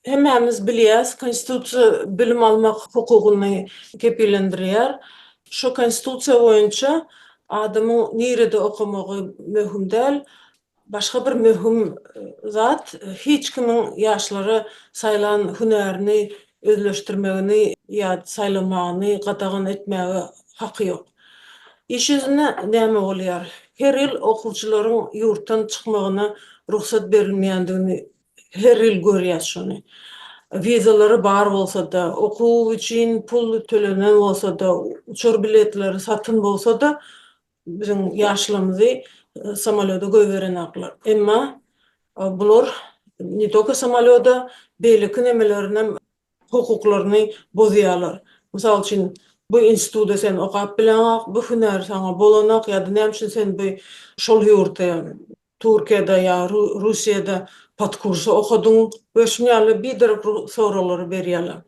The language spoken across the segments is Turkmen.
Hemmämiz bilýäs, Konstitusiýa bilim almak hukugyny kepillendirýär. Şu Konstitusiýa boýunça adamyň nirede okamagy möhüm däl, Başga bir möhüm zat, hiç kimiň ýaşlara saýlan hünärini özleşdirmegini ýa saýlamagyny gadagan etmäge haky ýok. Iş ýüzünde näme bolýar? Her ýyl okuwçylaryň ýurtdan çykmagyna rugsat berilmeýändigini her ýyl görýäs şony. Wizalary bar bolsa-da, okuw üçin pul tölenen bolsa-da, uçar biletleri satyn bolsa-da, Biziň ýaşlarymyzy samolýoda goýberenoklar. Emma bular ne tolko samolýoda, beýleki nemelerinem hukuklaryny bozýarlar. Mysal üçin, bu instituda sen okap bileňok, bu hünär saňa bolanok ýa-da näme üçin sen bu şol ýurtda, Türkiýede ýa Russiýada podkursa okadyň we şuny ýaly biderek soraglary berýärler.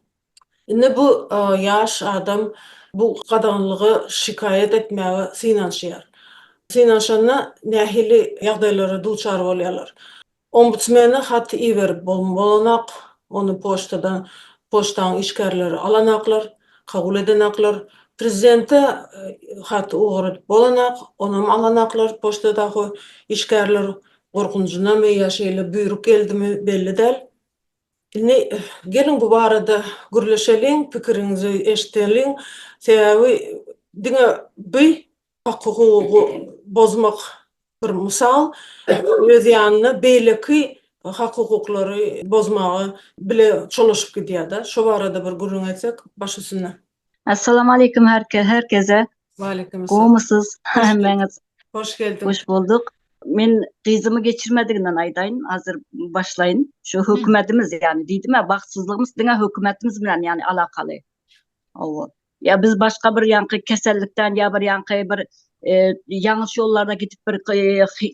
Indi bu ýaş adam bu gadaganlyga şikaýat etmäge synanyşýar. Synanyşanda nähili ýagdaýlara duçar bolýarlar? Ombudsmene hat iberip bolanok, ony poçtadan poçtaň işgärleri alanoklar, kabul edenoklar. Prezidente hat ugradyp bolanok, onam alanoklar poçtadaky işgärler gorkunjynamy ýa şeýle buýruk geldimi belli däl. Indi geliň bu barada gürleşeliň, pikiriňizi eşideliň. Sebäbi diňe bi hak hukugy bozmak bir mysal, öz ýanyna beýleki hak hukuklary bozmaga bile çolaşyp gidýär-de. Şo barada bir gürrüň etsek, baş üstüne. Assalamu aleykum herkese. Waleýkim assalam. Gowmysyz hemmäňiz? Hoş geldiň. Hoş bolduk. Men gyzymy geçirmediginden aýdaýyn, hazır başlaýyn. Şu hökümetimiz ýani diýdim-ä, bagtsyzlygymyz diňe hökümetimiz bilen ýani alakaly. Hawa. Ýa biz başga bir ýaňky kesellikden ýa bir ýaňky bir ýalňyş ýollarda gidip bir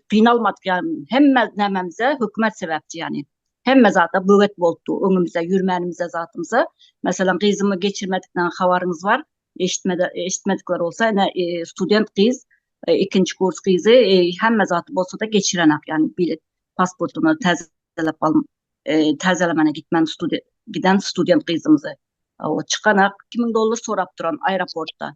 gynalmadyk ýaly. Hemme nämemize hökümet sebäpçi ýani. Hemme zada böwet bolupdy. Öňümizde ýürmänimizde zatymyza, meselem, gyzymy geçirmedikden habaryňyz bar, eşitmede, eşitmedikler bolsa, ine, e, student gyz, e, ikinji kurs gyzy, e, hemme zady bolsa-da geçirenak, ýagny bilet, pasportyny täzelep al, e, täzelemänä gitmän studen, giden student gyzymyzy. O, çykanak, iki müň dollar sorap duran aeroportda.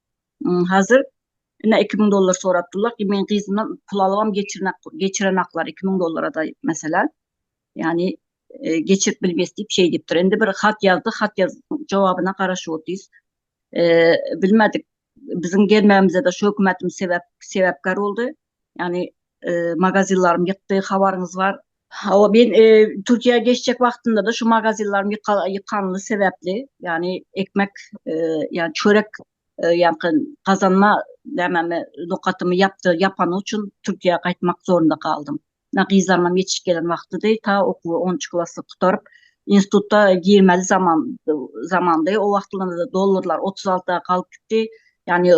Hazir Ine 2000 dollar sorapdylar. Ki men gyzymdan pul alybam geçirmek geçirenaklar 2000 dollara da mesela. Yani e, geçirip bilmes diýip şey diýipdir. Indi bir hat yazdı, hat yaz jogabyna garaşyp otyrys. E, bilmedik. Biziň gelmegimize de şu hökümetim sebep sebepkar oldy. Ýagny magazinlarym ýykdy, habaryňyz bar. Hawa, men Türkiýä geçjek wagtynda-da şu magazinlarym ýykanly sebäpli, ýagny ekmek, ýagny çörek, ýagny gazanma nämämi, nokatymy ýapdy, ýapany üçin Türkiýä gaýtmak zorunda galdym. Ýa gyzlarymam ýetişip gelen wagtydy, ta okuwy onunjy klasy gutaryp, instituta girmeli zaman zamandy. O wagtlarymyzda dollarlar otuz altyda galyp gitdi. Ýagny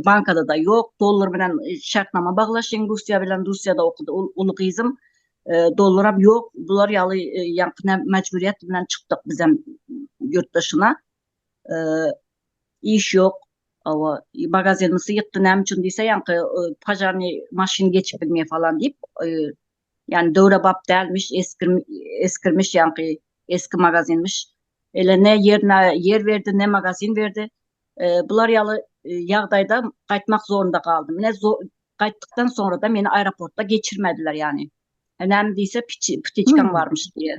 bankada-da ýok. Dollar bilen şertnama baglaşyň Russiýa bilen. Russiýada okudy uly gyzym. Dollaram ýok. Bular ýaly ýaňky näme mejburyýet bilen çykdyk bizem ýurt daşyna. iş ýok owo magazen ysy ýykdy näme üçin diýse ýaňky pažarnyý maşyn geçip bilmeýär falan diýip ýany döwre bap dälmiş eski eskirmiş ýaňky eski magazinmiş ele ne ýer ne ýer berdi ne magazin berdi bular ýaly ýagdaýda gaýtmak zorunda galdym ine gaýtdykdan soňra-da meni aeroportda geçirmediler ýany näme diýse ptiçkam barmyş diýe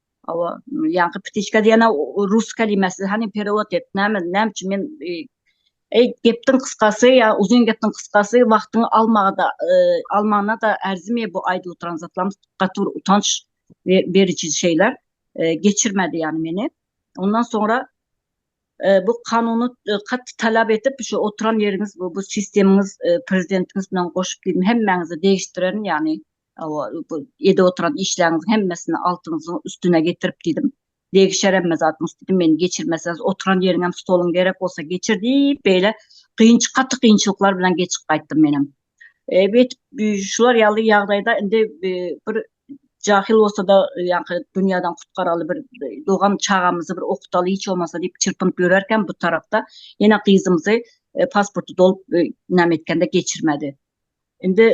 Hawa, ýaňky ptiçka diýen rus kelimesi, hany perewod et, näme, näme üçin men Eý, gepdiň gysgasy ýa uzyn gepdiň gysgasy wagtyňy almaga-da, almana-da ärzime bu aýdyp oturan zatlarymyz, gaty bir utanç beriji şeýler. Geçirmedi ýany meni. Ondan soňra bu kanuny gaty talap edip, şu oturan ýeriňiz, bu sistemiňiz, prezidentiňiz bilen goşup diýdim, hemmäňize degişdirerin ýany. Ede oturan işleriňiziň hemmesini altyňyzyň üstüne getirip diýdim. Degişer hemme zadyňyz diýdim. Meni geçirmeseňiz, oturan ýeriňem, stoluň gerek bolsa geçir diýip, beýle kynçy, gaty kynçylyklar bilen geçip gaýtdym menem. Şular ýaly ýagdaýda indi bir jahyl bolsa-da, ýaňky dünýäden gutkaraly bir dogan çagamyzy bir okutaly hiç bolmasa diýip çyrpynyp ýörerkäm bu tarapda ýene gyzymyzy pasporty dolup näme etgende geçirmedi. Indi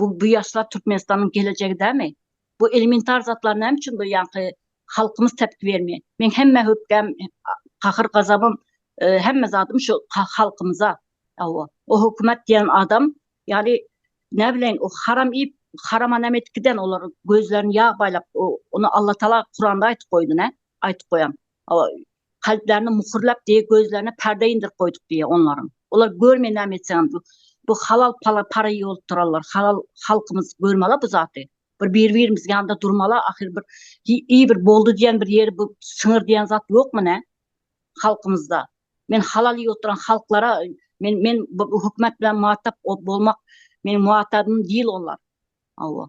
Bu bu ýaşlar Türkmenistanyň gelejegi dälmi? Bu elementar zatlar näme üçin bu ýaňky halkymyz tepki bermeýär? Meň hemme hökgäm, gahyr-gazabym, hemme zadym şu halkymyza. Hawa, o hökümet diýen adam ýaly näbileýin o haram iýip, harama näme edip giden olar gözlerini ýag baýlap, ony Allatagala Kuranda aýtyp goýdy nä? Aýtyp goýan. kalplaryny muhurlap diýip gözlerine perde indirip goýduk diýip onlaryň olar görmeýär näme etseňem bu halal pala para ýolup turarlar halal halkymyz görmeli bu zaty bir bir birimiz ýanda durmala ahyr bir iý bir boldy diýen bir ýeri bu syňyr diýen zat ýokmy ne halkymyzda men halal iýip oturan halklara men men bu hökümet bilen muhatap bolmak meniň muhatabym diýil olar awa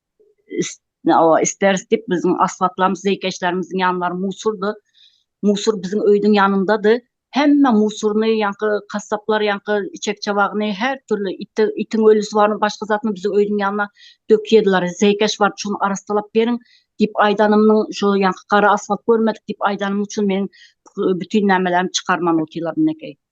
isteris diýip biziň asfaltlarymyz zeýkeşlerimiziň ýanlary musurdy. Musur biziň öýdüň ýanyndady. Hemme musuryny ýaňky kassaplar ýaňky içek-çabagyny her türli iti itiň ölüsi barmy başga zadymy biziň öýdüň ýanyna dökýärdiler. Zeýkeş bar şuny arassalap beriň diýip aýdanymyň şu ýaňky gara asfalt görmedik diýip aýdanym üçin meniň bütin nämelerimi çykarman otyrlar minekeý.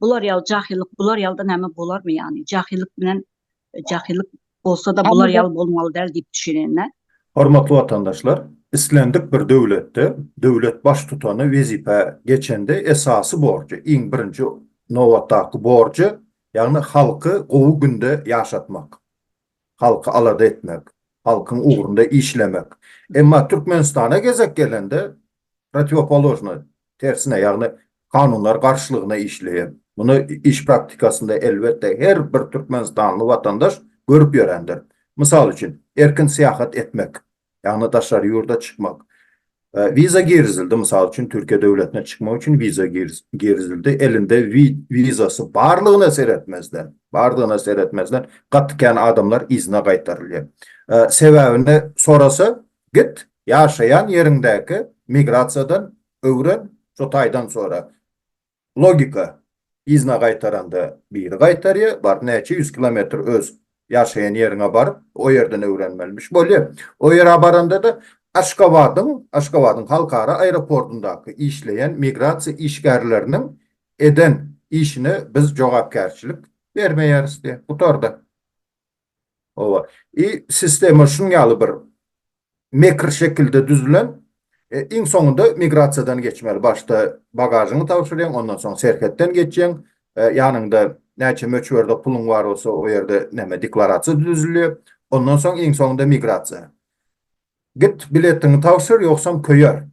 Bular ýaly jahyllyk, bular ýalda näme bolarmy ýany? Jahyllyk bilen jahyllyk bolsa-da bular ýaly bolmaly däl diýip düşünenä. Hormatly watandaşlar, islendik bir döwletde döwlet baştutany wezipä geçende esasy borjy, iň birinji nobatdaky borjy, ýagny halky gowy günde ýaşatmak. halky alada etmek, halkyň ugrunda işlemek. Emma Türkmenistana gezek gelende protiwopoložnoý, tersine, ýagny kanunlar garşylygyna işleýän. Muny iş praktikasynda elbetde her bir türkmenistanly watandaş görüp ýörendir. Mysal üçin, erkin syýahat etmek. Ýagny daşary ýurda çykmak. Wiza girizildi, mysal üçin Türkiýe döwletine çykmak üçin wiza girizildi, elinde wizasy barlygyna seretmezden, bardygyna seretmezden gaty kän adamlar yzyna gaýtarylýar. Sebäbini sorasa, git ýaşaýan ýeriňdäki migrasiýadan öwren, şo taýdan sora. Logika, yzyna gaýtaranda biri gaýtarýar, bar näçe ýüz kilometr öz ýaşaýan ýeriňe baryp, o ýerden öwrenmelimiş bolýar. O ýere baranda-da Aşgabadyň, Aşgabadyň halkara aeroportyndaky işleýän migrasiýa işgärleriniň eden işine biz jogapkärçilik bermeýäris diýýär. Gutardy. Howa. I sistema şunuň ýaly bir mekr şekilde düzülen. Iň soňunda migrasiýadan geçmeli. Başda bagažyňy tabşyrýaň, ondan soň serhetden geçýäň. Ýanyňda näçe möçberde puluň bar bolsa, o ýerde näme deklarasiýa düzülýär. Ondan soň iň soňunda migrasiýa. Git biletiňi tabşyr, ýogsam köýer.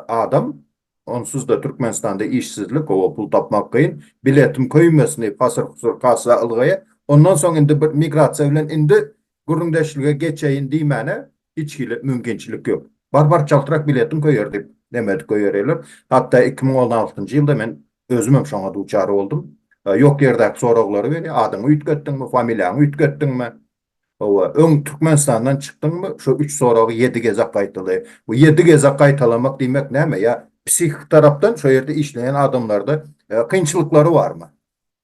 Adam Onsuzda Türkmenistanda işsizlik, howa pul tapmak kyn, biletim köýmesini hasyr-husur kassa ylgaýa, ondan soň indi bir migrasiýa bilen indi gürrüňdeşlige geçeýin diýmäne hiç hili mümkinçilik ýok. Bar-bar çaltrak biletin köýer diýip nemedik goýberýärler. Hatda iki müň on altynjy ýylda men özümem şoňa duçar boldum. Ýok ýerdäki soraglary berýär, adyňy üýtgetdiňmi, familiýaňy üýtgetdiňmi, Hawa, öň Türkmenistandan çykdyňmy, şu üç soragy ýedi gezek gaýtala. Bu ýedi gezek gaýtalamak diýmek näme? Ýa psihiki tarapdan şo ýerde işleýän adamlarda kynçylyklary barmy?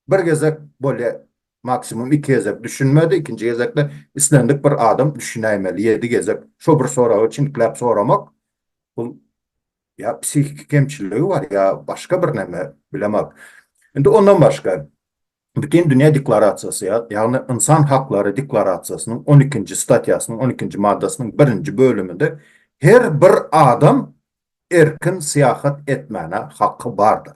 Bir gezek bolýa, maksimum iki gezek düşünmedi, ikinji gezekde islendik bir adam düşünäýmeli. Ýedi gezek şo bir soragy çinkläp soramak, bul ýa psihiki kemçiligi bar, ýa başga birneme, bilemok. Indi ondan başga, Bütindünýä deklarasiýasy, ýagny Ynsan haklary deklarasiýasynyň on ikinji statýasynyň on ikinji maddasynyň birinji bölüminde her bir adam erkin syýahat etmäne haky bardyr.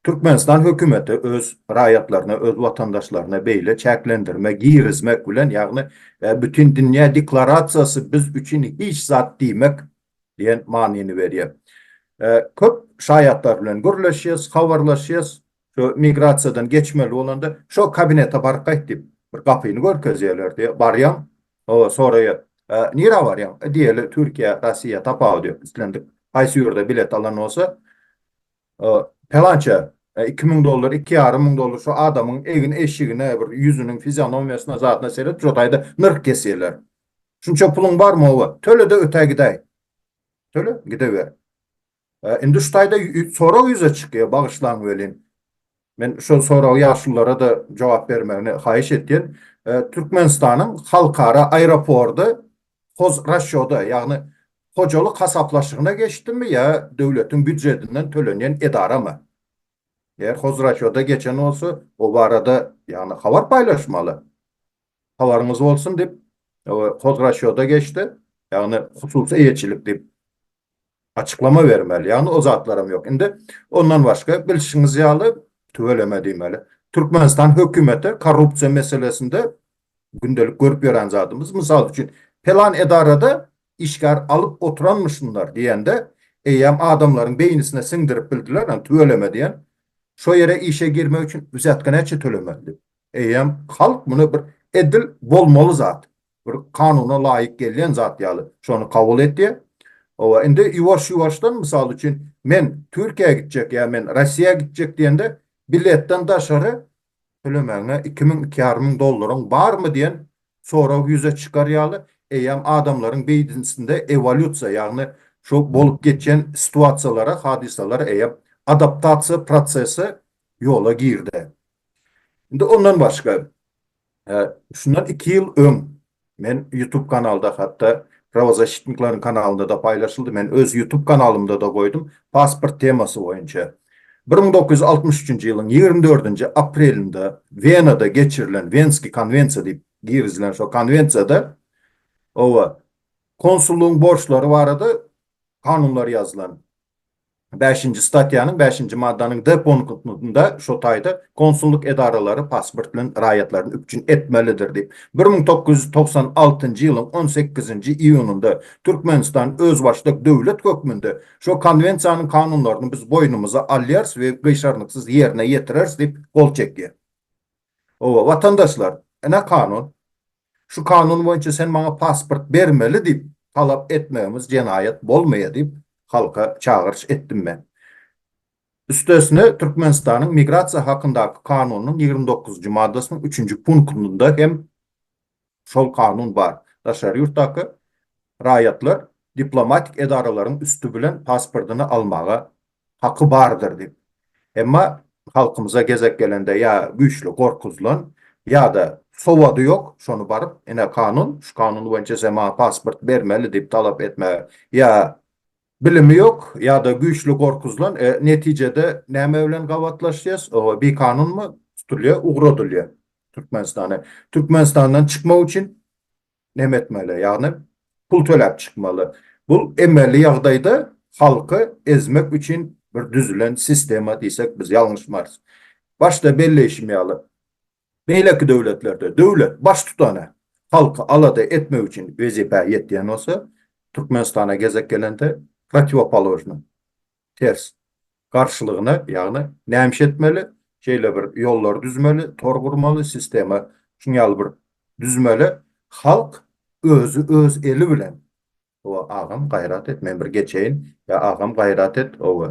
Türkmenistan hökümeti öz raýatlaryna, öz watandaşlaryna beýle çäklendirme girizmek bilen, ýagny Bütindünýä deklarasiýasy biz üçin hiç zat diýmek diýen manyny berýär. Köp şaýatlar bilen gürleşýäs, habarlaşýas, Şo migrasiýadan geçmeli bolanda, şo kabinete baryp gaýt diýip, bir gapyny görkezýärlerdi. Barýaň, hawa, soraýar, Nirä barýaň? Diýeli, Türkiýä, Russiýa, tapawudy ýok, islendik haýsy ýurda bilet alan bolsa, pelança, iki müň dollar, iki ýarym müň dollar, şo adamyň egin-eşigine, bir ýüzüniň fizionomiýasyna, zadyna seret, şo taýda nyrh kesýärler. Şunça puluň barmy? Hawa. Töle-de ötä gidäý. Töle, gideber. Indi şu taýda sorag ýüze çykýar, bagyşlaň welin, men şol soragy ýaşulylara-da jogap bermegini haýyş etýän. Türkmenistanyň halkara aeropordy hozrasýoda, ýagny hojalyk hasaplaşygyna geçdimi ýa döwletiň býujetinden tölenýän edaramy? Eger hozrasýoda geçen bolsa, o barada ýagny habar paýlaşmaly. habaryňyz bolsun diýip, hozrasýoda geçdi, ýagny hususy eýeçilik diýip açyklama bermeli, ýagny o zatlaram ýok. Indi ondan başga bilşiňiz ýaly, tüweleme diýmeli, Türkmenistan hökümeti korrupsiýa meselesinde gündelik görüp ýören zadymyz, mysal üçin, pelan edarada işgär alyp oturanmyşynlar diýende, eýýäm adamlaryň beýnisine siňdirip bildiler, ýagny tüweleme diýen, şo ýere işe girmek üçin wzýatka näçe tölemeli diýip. Eýýäm halk muny bir edil bolmaly zat, bir kanuna laýyk gelýän zat ýaly şony kabul etýär. Hawa, indi ýuwaş-ýuwaşdan, mysal üçin, men Türkiýä gitjek ýa men Rossiýa gitjek diýende, biletden daşary tölemäňe iki müň, iki ýarym müň dollaryň barmy diýen sorag ýüze çykar ýaly, eýýäm adamlaryň beýdnsinde ewolýusiýa, ýagny şu bolup geçýän situasiýalara, hadysalara eýýäm adaptasiýa prosesi ýola girdi. Indi ondan başga, şundan iki ýyl öň men ýutub kanalda, hatda Prawozasitnikleriň kanalynda-da paýlaşyldy, men öz ýutub kanalymda-da goýdum, pasport temasy boýunça, bir müň dokuz ýüz altmyş üçünji ýylyň ýigrimi dördünji aprelinde Wenada geçirilen Wenskiý konwensiýa diýip girizilen şo konwensiýada, hawa, konsullygyň borçlary barada kanunlar ýazylan. Bäşinji statýanyň bäşinji maddanyň D punktynda şu taýda Konsullyk edaralary pasport bilen raýatlaryny üpjün etmelidir diýip, bir müň dokuz ýüz togsan altynjy ýylyň on sekizinji iýunynda Türkmenistan özbaşdak döwlet hökmünde şu Konwensiýanyň kanunlaryny biz boýnumyza alýarys we gyşarnyksyz ýerine ýetireris diýip gol çekýär. Hawa, watandaşlar, ine kanun. Şu kanun boýunça sen maňa pasport bermeli diýip talap etmegimiz jenaýat bolmaýa diýip halka çagyryş etdim men. Üstesine Türkmenistanyň Migrasiýa hakyndaky kanunynyň ýigrimi dokuzynjy maddasynyň üçünji punktynda hem Şol kanun bar. Daşary ýurtdaky raýatlar diplomatik edaralaryň üsti bilen pasportyny almaga haky bardyr diýip. Emma halkymyza gezek gelende ýa güýçli gorkuzylan, ýa-da sowady ýok, şony baryp, ine kanun, şu kanun boýunça sen maňa pasport bermeli diýip talap etmäge ýa Bilimi ýok ýada güýçli gorkuzylan e netijede näme bilen gabatlaşýas o bikanunmy tutulýa ugradylýa türkmenistana türkmenistandan çykmak üçin neme etmeli ýagny pul töläp çykmaly bul emeli ýagdaýda halky ezmek üçin bir düzülen sistema diýsek biz ýalňyşmarys başda belleýşim ýaly Beýleki döwletlerde döwlet Baştutany halky alada etmek üçin wezipä ýetýän bolsa, Türkmenistana gezek gelende protiwopoložnyň, ters, garşylygyna, ýagny näme iş etmeli, şeýle bir ýollar düzmeli, tor gurmaly, sistema şuňýaly bir düzmeli, halk özi öz eli bilen Owe agam gaýrat et men bir geçeýin ýa agam gaýrat et owe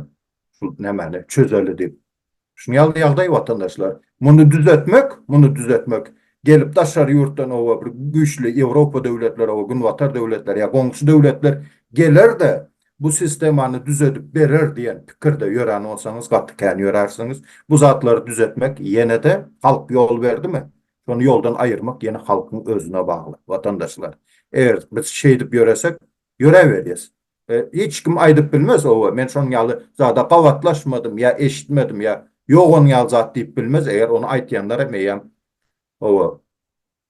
şul nämäni çözeli diýip. Şun ýaly ýagdaý watandaşlar. Muny düzetmek, muny düzetmek gelip daşary ýurtdan owe bir güýçli ýewropa döwletleri owe günbatar döwletleri ýa goňşy döwletler geler-de bu sistemany düzedip berer diýen pikirde ýören bolsaňyz gaty kän ýörärsiňiz. Bu zatlary düzetmek ýene-de halk ýol berdimi? Şony ýoldan aýyrmak ýene halkyň özüne bagly, watandaşlar. Eger biz şeýdip ýöresek, ýöräberýäs. Hiç kim aýdyp bilmez, owe, men şonuň ýaly zada gabatlaşmadym ýa eşitmedim ýa ýok onuň ýaly zat diýip bilmez, eger ony aýtýanlar hem eýýäm, owe,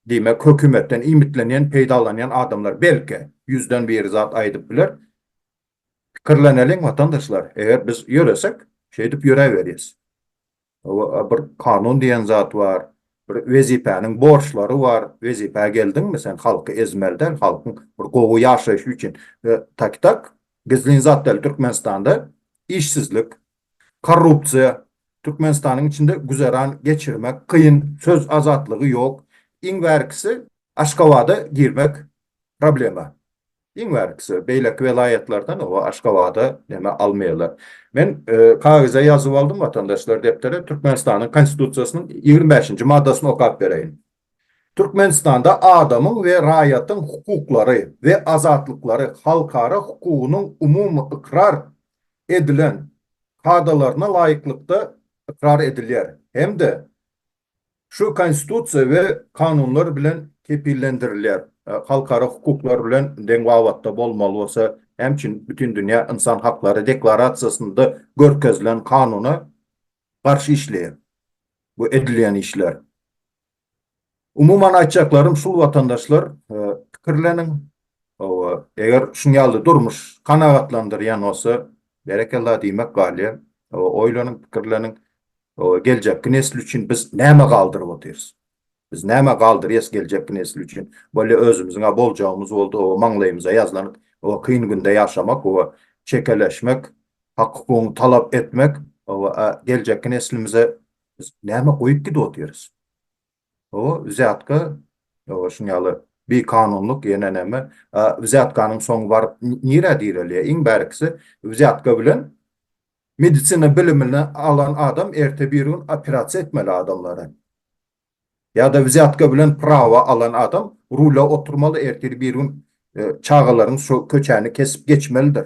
diýmek, hökümetden iýmitlenýän, peýdalanýan adamlar, belki, ýüzden biri zat aýdyp biler. Pikirleneliň, watandaşlar, eger biz ýöresek, şeýdip ýöräberýäs. Bir kanun diýen zat bar. Bir wezipäniň borçlary bar. Wezipä geldiňmi, sen halky ezmeli däl, halkyň bir gowy ýaşaýşy üçin. Takitak, gizlin zat däl, Türkmenistanda işsizlik, korrupsiýa, Türkmenistanyň içinde güzeran geçirmek kyn, söz azatlygy ýok. Iň bärkisi Aşgabada girmek problema. Iň bärkisi beýleki welaýatlardan oba Aşgabada neme almaýarlar. Men kagyza ýazyp aldym watandaşlar depdere Türkmenistanyň Konstitusiýasynyň ýigrimi bäşinji maddasyny okap bereýin. Türkmenistanda adamyň we raýatyň hukuklary we azatlyklary halkara hukugynyň umumy ykrar edilen kadalaryna laýyklykda ykrar edilýär hem-de Şu Konstitusiýa we kanunlar bilen kepillendirilýär. Halkara hukuklar bilen deň babatda bolmaly bolsa, näme üçin Bütindünýä ynsan haklary deklarasiýasynda görkezilen kanuna garşy işleýär bu edilýän işler? Umuman aýtjaklarym şul watandaşlar pikirleniň we eger şuň ýaly durmuş kanagatlandyrýan bolsa berekella diýmek galýar. Oýlanyň pikirleniň Geljekki nesil üçin biz näme galdyryp otyrys? Biz näme galdyrýas geljekki nesil üçin? Bolýa özümiziň-ä boljagymyz boldy, oba maňlaýymyza ýazlanyp, oba kyn günde ýaşamak, oba çekeleşmek, hak-hukugyňy talap etmek, oba-ä geljekki neslimize biz näme goýup gidip otyrys? O wziatka o şuň ýaly bikanunlyk ýene näme a wziatkanyň soňy baryp nirä direlýär iň bärkisi wziatka bilen medisina bilimini alan adam erte bir gün operasiýa etmeli adamlara ýada wziatka bilen prawa alan adam rula oturmaly ertir bir gün çagalaryň şu köçäni kesip geçmelidir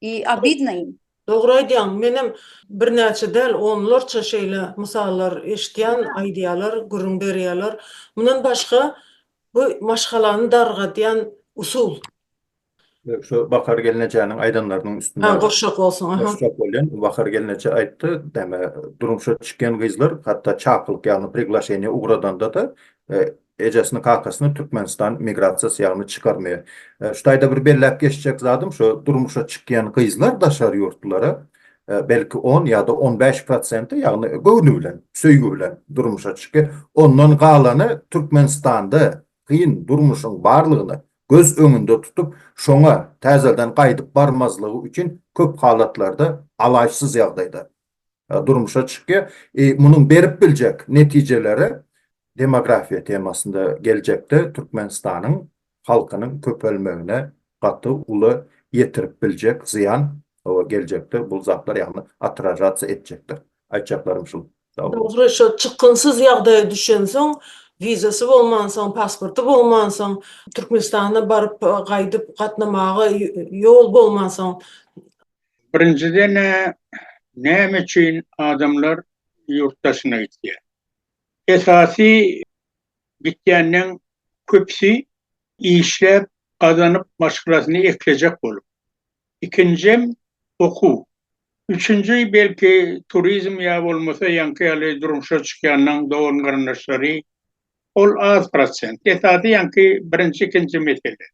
I obidno im. Dogry aýdýaň, menem birnäçe däl onlarça şeýle mysallar eşitýän, aýdýalar, gürrüň berýäler. Mundan başga bu maşgalany dargadýan usul. Şu Bahar gelnejäniň aýdanlarynyň üstüne. Hä, gurşak bolsun, aha. Gurşak bolýan, Bahar gelneje aýtdy, näme durmuşa çykýan gyzlar hatda çakylyk ýagny priglaşeniýe ugradanda-da Ejesini kakasyny Türkmenistan migrasiýasy ýagny çykarmaýar. Şu taýda bir belläp geçjek zadym şo durmuşa çykýan gyzlar daşary ýurtlulara belki on ýada on bäş prosenti ýagny göwni bilen söýgi bilen durmuşa çykýar ondan galany Türkmenistanda kyn durmuşyň barlygyny göz öňünde tutup şoňa täzeden gaýdyp barmazlygy üçin köp halatlarda alaçsyz ýagdaýda durmuşa çykýar. Munuň berip biljek netijeleri demografiýa temasynda geljekde Türkmenistanyň halkynyň köpelmegine gaty uly ýetirip biljek zyýan geljekde bu zatlar ýagny otražatsiýa etjekdir. Aýtjaklarym şul. Dogry, şo çykgynsyz ýagdaýa düşensoň, wizasy bolmansoň, pasporty bolmansoň, Türkmenistana baryp, gaýdyp gatnamaga ýol bolmansoň, Birinjiden-ä näme üçin adamlar ýurt daşyna gitýär? Esasy gitýänleň köpüsi işläp, gazanyp maşgalasyny eklejek bolup. Ikinjem okuw. Üçünji belki turizm ýa bolmasa ýaňky ýaly durmuşa çykýanlaň dogan-garyndaşlary ol az prosent. Esasy ýaňky birinji-ikinji mesele.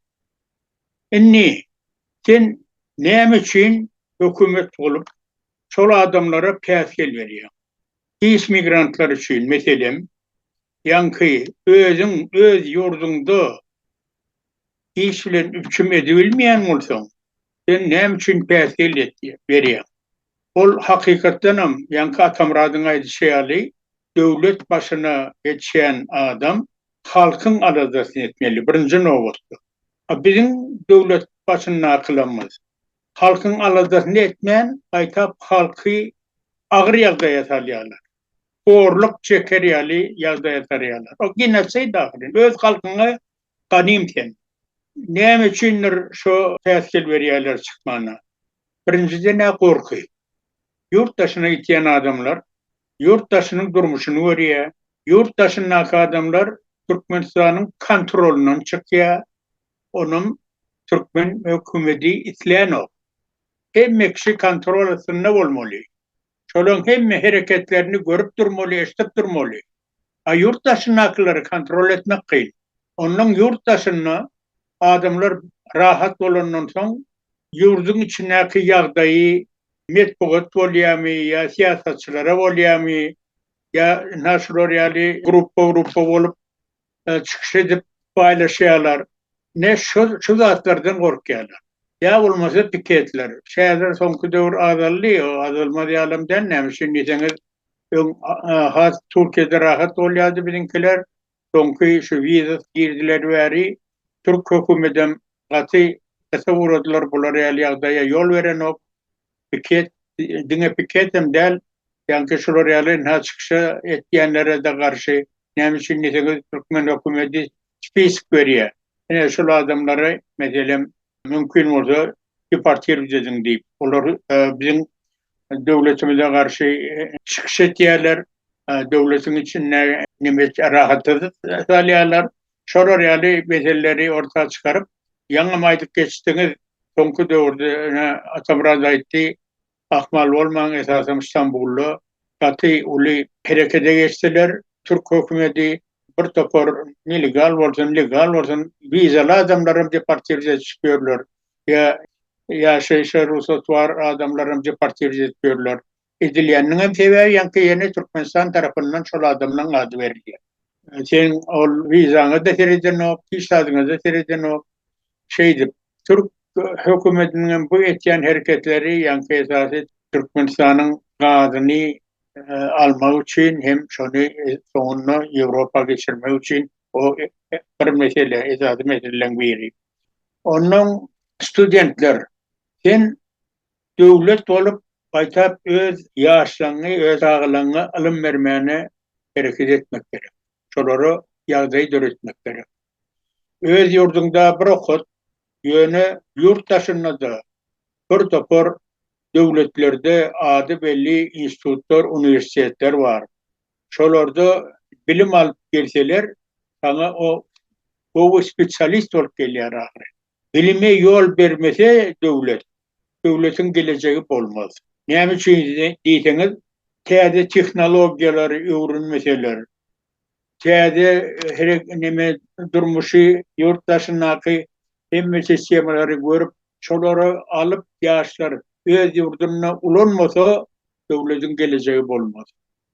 Indi sen näme üçin hökümet bolup, şol adamlara päsgel berýäň? Pis migrantlar üçin, meselem, ýaňky özüň öz ýurduňda iş bilen üpjüm edibilmeýän bolsaň, sen näme üçin päsgel berýäň? Ol hakykatdanam, ýaňky Atamyradyň aýdyşy ýaly, Döwlet başyna geçýän adam halkyň aladasyny etmeli, birinji nobatda. A biziň döwlet başyndakylarymyz halkyň aladasyny etmän, gaýtap halky agyr ýagdaýa salýarlar. Horluk çeker ýaly ýagdaýa salýarlar. O genosid ahyryn. Öz halkyňa ganym sen. Näme üçindir şo päsgel berýärler çykmana. Birinjiden-ä gorky. Ýurt daşyna gitýän adamlar ýurt daşynyň durmuşyny görýär, ýurt daşyndaky adamlar Türkmenistanyň kontrolyndan çykýar, onam türkmen hökümedi islänok. Hemme kişi kontrol astynda bolmaly. Şolaň hemme hereketlerini görüp durmaly, eşdip durmaly. A ýurt daşyndakylary kontrol etmek kyn. Onnoň ýurt daşynda adamlar rahat bolandan soň ýurduň içindäki ýagdaýy metbugat bolýamy ýa syýasatçylara bolýamy ýa ynha şular ýaly grupba grupba bolup çykyş edip baýlaşýalar ne şo şu zatlardan gorkýalar. Ýa bolmasa piketler. Şäher soňky döwür azaldy o azalmaz ýalam däl näme üçin diýseňiz öň has Türkiýede rahat bolýardy biziňkiler Soňky şu wizasy girdiler bäri türk hökümedem gaty gysa ugradylar bular ýaly ýagdaýa ýol berenok piket diňe piketem däl ýaňky şular ýaly ynha çykyşa etýänlerede garşy näme üçin diýseňiz türkmen hökümedi spisik berýä ine şul adamlary meselem Mümkin bolsa deportirowt ediň diýip, olar biziň döwletimize garşy çykyş etýärler, döwletiň içinde nemes rahatsyz salýarlar. Şolar ýaly meselleri orta çykaryp, ýaňam aýdyp geçdiňiz, soňky döwürde ýene Atamyrat aýtdy, Ahmal bolmaň esasan Stambulda gaty uly herekede geçdiler türk hökümedi bir topar nelegal bolsun legal bolsun wizaly adamlaram deportirz edişip ýörler ýa ýaşaýşa rugsat bar adamlaram deportirz edip ýörler edilýäniniňem sebäbi ýaňky ýene Türkmenistan tarapyndan şol adamlaň ady berilýär. Sen ol wizaňa-da seredenok, pisadiňe-de seredenok. Şeýdip, türk hökümetiniň hem bu etýän hereketleri, ýaňky esasy Türkmenistanyň gazyny almak üçin hem şony soňunda Ýewropa geçirmek üçin o bir mesele, esasy meseleleriň biri. Onnoň studentler, sen Döwlet bolup, gaýtap öz ýaşlaňňy, öz agalaňňy ylym bermäne hereket etmek gerek. Şolara ýagdaý döretmek gerek. Öz ýurduňda bir okat, ýöne ýurt daşynda-da bir topar döwletlerde ady belli institutlar, uniwersitetler bar. Şolarda bilim alyp gelseler, saňa o gowy spesialist bolup gelýär ahyry. Bilime ýol bermese döwlet, döwletiň gelejegi bolmaz. Näme üçin diýseňiz, täze tehnologiýalary öwrenmeseler, täze neme durmuşy, ýurt daşyndaky hemme sistemalary görüp, şolary alyp ýaşlar öz ýurdunda ulanmasa, döwletiň gelejegi bolmaz.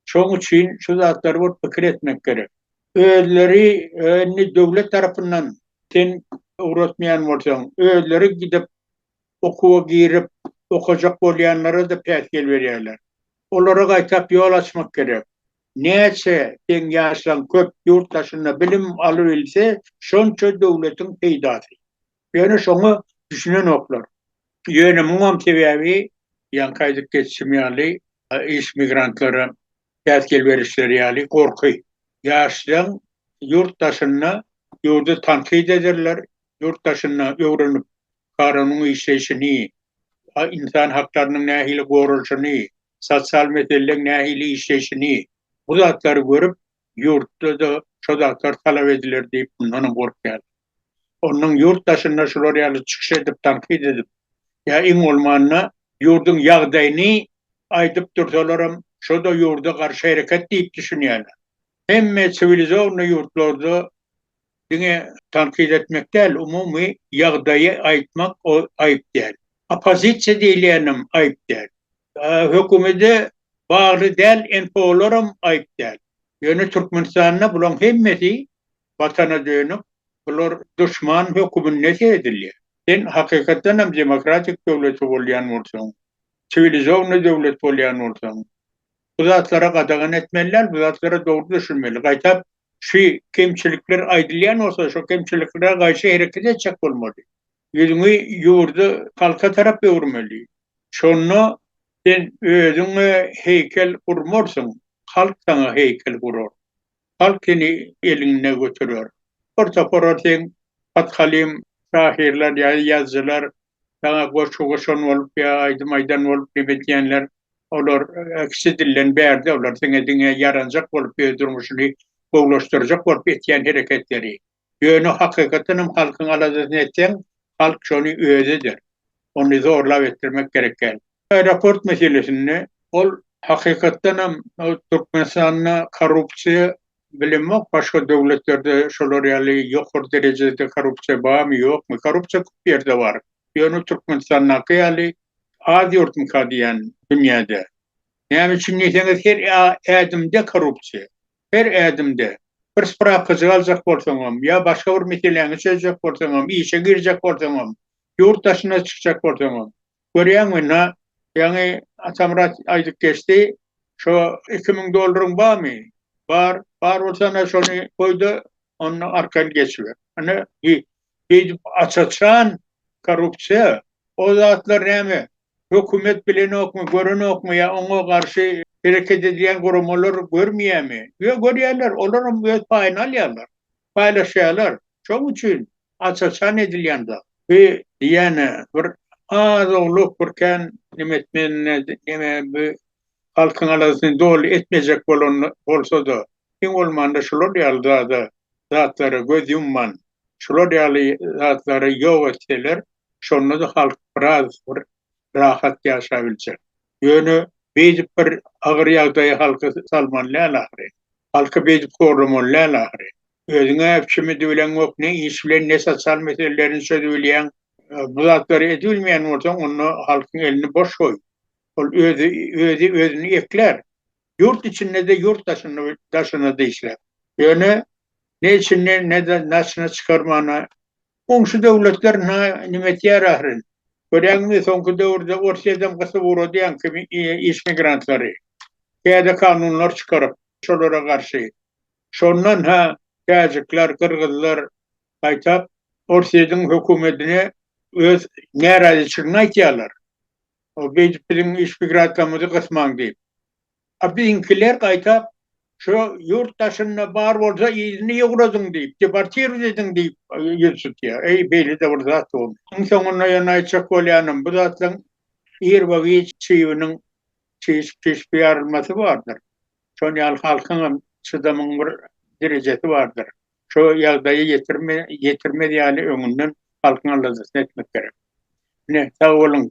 Şoň üçin şu zatlary bir pikir etmek gerek. Özleri indi döwlet tarapyndan sen ugratmaýan bolsaň, özleri gidip okuwa girip okajak bolýanlara-da päsgel berýärler. Olara gaýtap ýol açmak gerek. Näçe seň ýaşlaň köp ýurt daşynda bilim alybilse, şonça döwletiň peýdasy. Ýöne şoňa düşünenoklar. Ýöne muňam sebäbi, ýaňky aýdyp geçişim ýaly, iş migrantlara päsgel berişleri ýaly gorky. Ýaşlaň ýurt daşynda ýurdy tankyt ederler, ýurt daşynda öwrenip, kanunyn işleýşini, ynsan haklarynyň nähili goralyşyny, sosial meseleleň nähili işleýşini, bu zatlary görüp, ýurtda-da şo zatlar talap ediler diýip, mundanam gorkýarlar. Ondan ýurt daşynda şular ýaly çykyş edip tankyt edip ýa iň bolmanda ýurduň ýagdaýyny aýdyp dursalaram şoda ýurda garşy hereket diýip düşünýäler. Hemme siwilizowny ýurtlarda diňe tankyt etmek däl umumy ýagdaýy aýtmak aýyp däl. Oppozisiýa diýilýänem aýyp däl. Hökümede bagly däl NPO-laram aýyp däl. Ýöne Türkmenistanda bulaň hemmesi Watana dönük, bular duşman höküminde sezilýär. Sen hakykatdan hem demokratik döwleti bolýan bolsaň, siwilizowny döwlet bolýan bolsaň, bu zatlara gadagan etmeli däl, bu zatlara dogry düşünmeli. Gaýtap, şu kemçilikler aýdylýan bolsa, şo kemçiliklere gaýşy hereket etjek bolmaly. Ýüzüňi ýurdy, halka tarap öwürmeli. Şonda sen özüňe heýkel gurmarsyň, halk saňa heýkel gurar. Halk seni elinde göterer. Bir topara seň hathalim şahyrlar ýa ýazyjylar saňa goşgy goşan bolup ýa aýdym aýdan bolup neme diýenler, olar kişi dilden bärde, olar seňe diňe ýaranjak bolup öz durmuşyny gowulaşdyrjak bolup etýän hereketleri. Ýöne hakykatdan hem halkyň aladasyny etseň, halk şony özi eder. Ony zorlap etdirmek gerek däl. Aeroport meselesinde ol hakykatdan hem Türkmenistanda korrupsiýa bilinmok, başga döwletlerde şolar ýaly ýokary derejede korrupsiýa barmy, ýokmy? Korrupsiýa köp ýerde bar. Ýöne Türkmenistandaky ýaly az ýurtmyka diýýän dünýäde. Näme üçin diýseňiz her ädimde korrupsiýa. Her ädimde, bir sprapkajygy aljak bolsaňam, ýa başga bir meseläňi çözjek bolsaňam, işe girjek bolsaňam, ýurt daşyna çykjak bolsaňam, görýäňmi, na, ýaňy Atamyrat aýdyp geçdi, şo iki müň dollaryň barmy? Bar. Bar bolsa, ana, şony goý-da, onda arkan geçiber. Ine, beýdip aç-açan korrupsiýa, o zatlar näme, Hökümet bilenokmy, görenokmy ýa oňa garşy hereket edýän guramalar görmeýärmi? Ýok, görýärler. Olaram öz paýyny alýarlar. Paýlaşýarlar. Şoň üçin aç-açan edilýän zat. Bu diýýän-ä bir az-owlak bir kän neme etmeýän neme bu halkyň aladasyny doly etmejek bolan bolsa-da, iň bolmanda şular ýaly zada, zatlara göz ýumman, şular ýaly zatlary ýok etseler, Şonda-da halk biraz bir rahat ýaşabiljek. Ýöne beýdip bir agyr ýagdaýa halky salmaly däl ahyry. Halky beýdip horlamaly däl ahyry. Özüň-ä kimidi bileňok, ne iş bilen, ne sosial meselelerini çözübilýäň. Bu zatlary edibilmeýän bolsaň, onda halkyň elini boş goý. Ol özi özi özüni eklär. Ýurt içinde-de, ýurt daşynda-daşynda-da işläp. Ýöne ne içinden, ne-de daşyna çykarmana Goňşy döwletler na nime etýär ahyryn? Görýäňizmi soňky döwürde Orsyýadam gysyp ugradyýan kimi iş migrantlary. Täze kanunlar çykaryp şolara garşy. Şondan ha täjikler, gyrgyzlar gaýtap Orsyýadyň hökümetine öz närazyçylygyny aýtýarlar. Beýdip biziň iş migrantlarymyzy gysmaň diýip. A biziňkiler gaýtap, Şu ýurt daşynda bar bolsa, ilini ýugradyň diýip, deportirowat ediň diýip ýüz tutýar. Eý, beýle-de bir zat dur. Iň soňunda ýöne aýtjak bolýanym, bu zatlaryň ir we giç çybnyň çişip-çişip ýarylmasy bardyr. Şonuň ýaly halkyň hem çydamyň bir derejesi bardyr. Şo ýagdaýa ýetirmez ýaly öňünden halkyň aladasyny etmek gerek. Ine, sag boluň.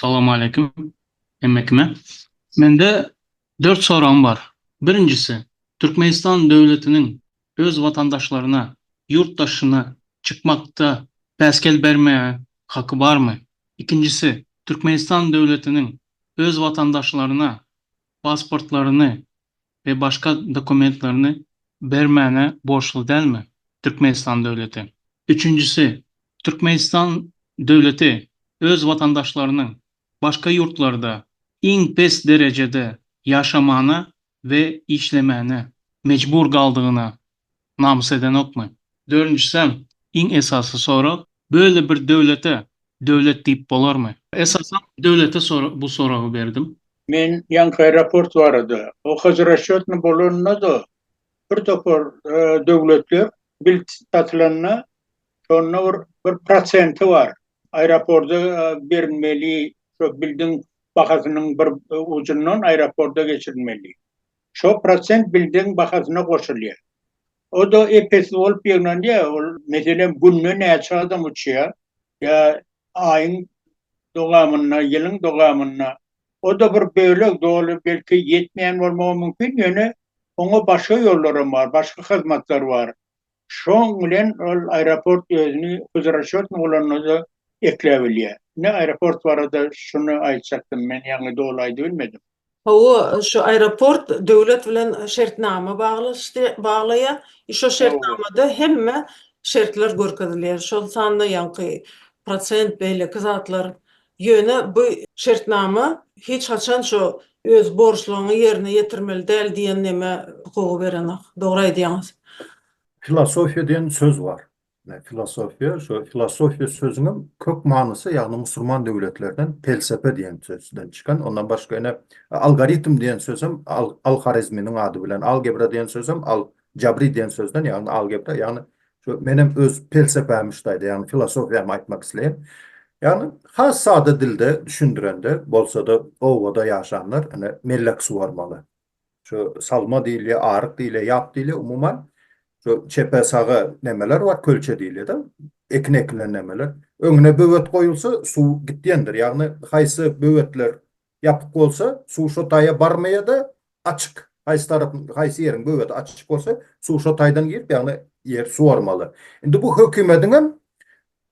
Salowmaleýkim hemme kime. Mende dört soragym bar. Birinjisi, Türkmenistan döwletiniň öz watandaşlaryna ýurt daşyna çykmakda päsgel bermäge haky barmy? Ikinjisi, Türkmenistan döwletiniň öz watandaşlaryna pasportlaryny we başga dokumentlerini bermäne borçly dälmi Türkmenistan döwleti? Üçünjisi, Türkmenistan döwleti öz watandaşlarynyň başga ýurtlarda iň pes derejede ýaşamana we işlemäne mejbur galdygyna Namys edenokmy? Dördünjisem, iň esasy sorag, Böyle bir döwlete döwlet diýip bolarmy? Esasam, döwlete bu soragy berdim. Men ýaňky aeroport barada, o hazrasçetny bolanda-da, bir topar döwletler bilt satylanda, şonda bir bir prosenti bar, aeroporda berilmeli, şo bildiň bahasynyň bir ujundan aeroporda geçirilmeli. Şo prosent bildegiň bahasyna goşulýar. O-da ep-esli bolup ýygnanýar. Ol, meselem, günde näçe adam uçýar ýa aýyň dowamynda, ýylyň dowamynda. O-da bir bölek, doly, belki, ýetmeýän bolmagy mümkin, ýöne oňa başga ýollaram bar, başga hyzmatlar bar. Şoň bilen ol aeroport özüni huzurasçyotny ulanyda ekläbilýär. Ine aeroport barada şuny aýtjakdym men ýaňy doly aýdybilmedim. Hawa, şu aeroport döwlet bilen şertnama baglaşdy, baglaýar. I şo şertnamada hemme şertler görkezilýär. Şol sanda ýaňky prosent beýleki zatlar Ýöne bu şertnama hiç haçan şo öz borçlugyňy ýerine ýetirmeli däl diýen neme hukugy berenok. Dogry aýdýaňyz. Filosofiýa diýen söz bar. Filosofiýa şo filosofiýa sözüniň kök manysy ýagny musurman döwletlerden pelsepe diýen sözden çykan. Ondan başga ine algoritm diýen sözem al-Horezminiň ady bilen, algebra diýen sözem al Jabri diýen sözden, ýagny algebra, ýagny şu menem öz pelsepämi şu taýda, ýagny filosofiýamy aýtmak isleýän. Ýagny has sada dilde düşündirende, bolsa-da obada ýaşanlar ine mellek suwarmaly. Şu salma diýilýär, aryk diýilýär, ýap diýilýär, umuman şu çepe-saga nemeler bar, kölçe diýilýär-de, ekin ekilen nemeler. Öňüne böwet goýulsa, suw gitýändir. Ýagny haýsy böwetler Ýapyk bolsa, suw şo taýa barmaýa-da, açyk, haýsy tarap, haýsy ýeriň böweti açyk bolsa, suw şo taýdan girip, ýagny ýer suwarmaly. Indi bu hökümediň hem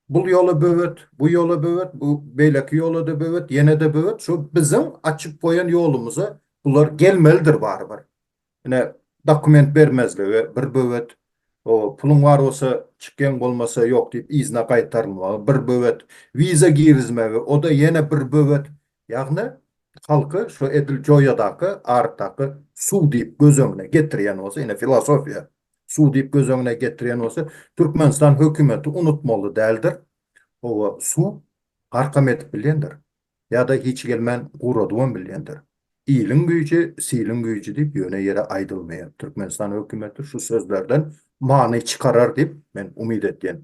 bul ýola böwet, bu ýola böwet, bu beýleki ýola-da böwet, ýene-de böwet, şo biziň açyp goýan ýolumyza bular gelmelidir barybir. Ine dokument bermezligi bir böwet, o puluň bar bolsa çyk geň bolmasa ýok diýip yzyna gaýtarylmagy bir böwet, wiza girizmegi oda ýene bir böwet, ýagny halky şu edil joýadaky arydaky suw diýip göz öňüne getirýän bolsa ine filosofiýa suw diýip göz öňüne getirýän bolsa Türkmenistan hökümeti unutmaly däldir, oba suw garkam edip bilýändir. Ýa-da hiç gelmän guradybam bilýändir. Iliň güýji, siliň güýji diýip ýöne ýere aýdylmaýar. Türkmenistan hökümeti şu sözlerden many çykarar diýip, men umyt edýän.